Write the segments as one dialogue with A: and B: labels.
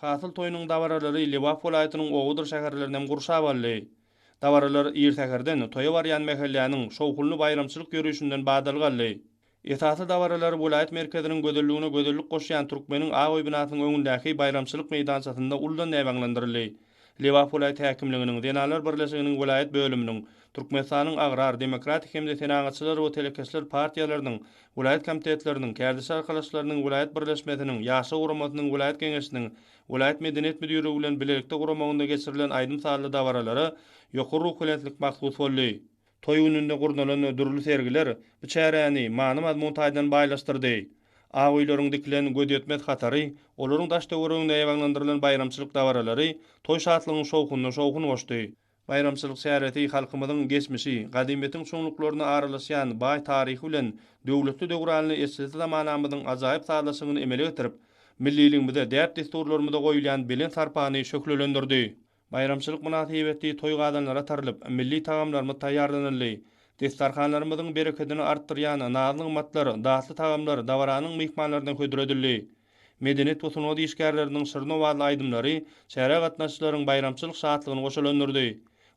A: Hasyl toýunyň dabaralary Lebap welaýatynyň obadyr şäherlerini hem gurşap aldy. Dabaralar ir säherden toýa barýan mähelläniň şowhunly baýramçylyk ýörişinden badalga aldy. Esasy dabaralar welaýat merkeziniň gözelligine gözellik goşýan Türkmeniň Aoý binasynyň öňündäki baýramçylyk meýdançasynda uludan näbaňlandyryldy. Lebap welaýat häkimliginiň, Zenanlar birleşiginiň welaýat bölüminiň, Türkmenistanyň Agrar, Demokratik hem-de Senagatçylar we telekeçiler partiýalarynyň welaýat komitetleriniň, Kärdeşi arkalaşyklarynyň welaýat birleşmesiniň, Ýaşlar guramasynyň welaýat geňeşiniň welaýat medeniýet müdirligi bilen bilelikde guramagynda geçirilen aýdym-sazly dabaralara ýokary ruhubelentlik mahsus boldy. Toý gününde gurnalan dürli sergiler bu çäräni many-mazmun taýdan baýlaşdyrdy. Ak öýleriň dikilen gözýetmez hatary, olaryň daş-töwereginde ýabaglandyrylan baýramçylyk dabaralary toý şatlygyň şowhunyna şowhun goşdy. Baýramçylyk çäresi halkymyzyň geçmişi, gadymyýetiň çuňluklaryna aralaşýan baý taryhy bilen döwletli döwranly eşretli zamanamyzyň ajaýyp sazlaşygyny emele getirip, milliligimize, däp-dessurlarymyza goýulýan belent sarpany şöhlelendirdi. Baýramçylyk mynasybetli toý gazanlara tarylyp, milli tagamlarymyz taýýarlanyldy. Destarhanlarymyzyň berekedini artdyrýan naz-nygmatlar, datly tagamlar dabaranyň myhmanlaryna hödür edildi. Medeniýet we sungat işgärleriniň şirin owazly aýdymlary çärä gatnaşyjylaryň baýramçylyk şatlygyny goşalandyrdy.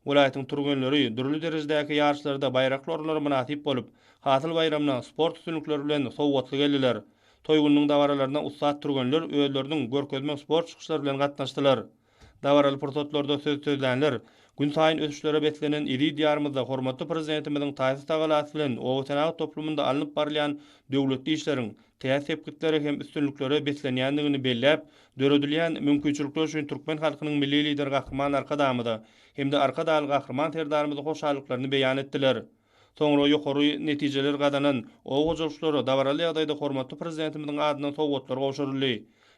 A: Welaýatyň türgenleri dürli derejedäki ýaryşlarda baýrakly orunlara mynasyp bolup, Hasyl baýramyna sport üstünlikleri bilen sowgatly geldiler. Toý gününiň dabaralaryna ussat türgenler özleriniň görkezme sport çykyşlary bilen gatnaşdylar. Dabaraly pursatlarda söz sözlänler, günsaýyn ösüşlere beslenen eziz Diýarymyzda hormatly Prezidentimiziň taýsyz tagalasy bilen obasenagat toplumynda alnyp barylýan döwletli işleriň täze sepgitlere hem üstünliklere beslenýändigini belläp, döredilýän mümkinçilikler üçin türkmen halkynyň Milli Lideri Gahryman Arkadagymyza hem-de Arkadagly Gahryman Serdarymyza hoşallyklaryny beýan etdiler. Soňra ýokary netijeler gazanan oba hojalykçylara dabaraly ýagdaýda hormatly Prezidentimiziň adyndan sowgatlar gowşuryldy.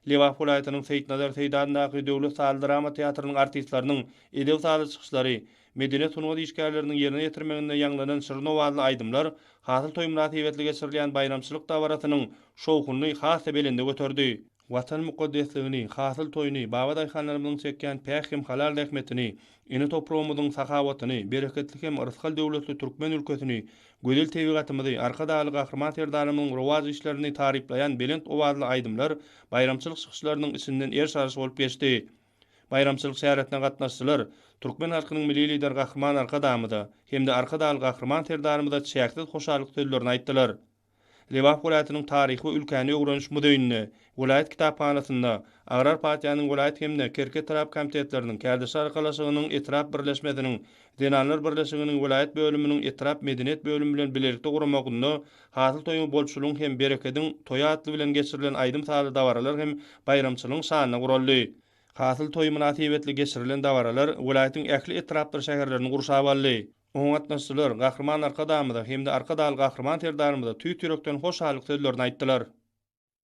A: Lebap welaýatynyň Seýitnazar Seýdi adyndaky döwlet sazly drama teatrynyň artistleriniň edeb-sazly çykyşlary, medeniýet-sungat işgärleriniň ýerine ýetirmeginde ýaňlanan şirin owazly aýdymlar Hasyl toýy mynasybetli geçirilýän baýramçylyk dabarasynyň şowhunyny has-da belende göterdi. Watan mukaddesligini, hasyl toýuny, baba daýhanlarymyzyň çekýän päk hem halal zähmetini, ene topragymyzyň sahawatyny, bereketli hem rysgal-döwletli türkmen ülkesini, gözel tebigatymyzy, Arkadagly Gahryman Serdarymyzyň rowaç işlerini taryplaýan belent owazly aýdymlar baýramçylyk çykyşlarynyň içinden eriş-aryş bolup geçdi. Baýramçylyk çäresine gatnaşyjylar türkmen halkynyň Milli Lideri Gahryman Arkadagymyza hem-de Arkadagly Gahryman Serdarymyza çäksiz hoşallyk sözlerini aýtdylar. Lebap welaýatynyň Taryhy we ülkäni öwreniş muzeýinde, welaýat kitaphanasynda, Agrar partiýanyň welaýat hem-de Kerki etrap komitetleriniň Kärdeşler arkalaşygynyň etrap birleşmesiniň Zenanlar birleşiginiň welaýat bölüminiň etrap medeniýet bölümi bilen bilelikde guramagynda Hasyl toýuň bolçulygyň hem berekediň toýy atly bilen geçirilen aýdym-sazly dabaralar hem baýramçylygyň şanyna guraldy. Hasyl toýy mynasybetli geçirilen dabaralar welaýatyň ähli etrapdyr şäherlerini gurşap aldy. Oňa gatnaşyjylar Gahryman Arkadagymyza hem-de Arkadagly Gahryman Serdarymyza tüýs ýürekden hoşallyk sözlerini aýtdylar.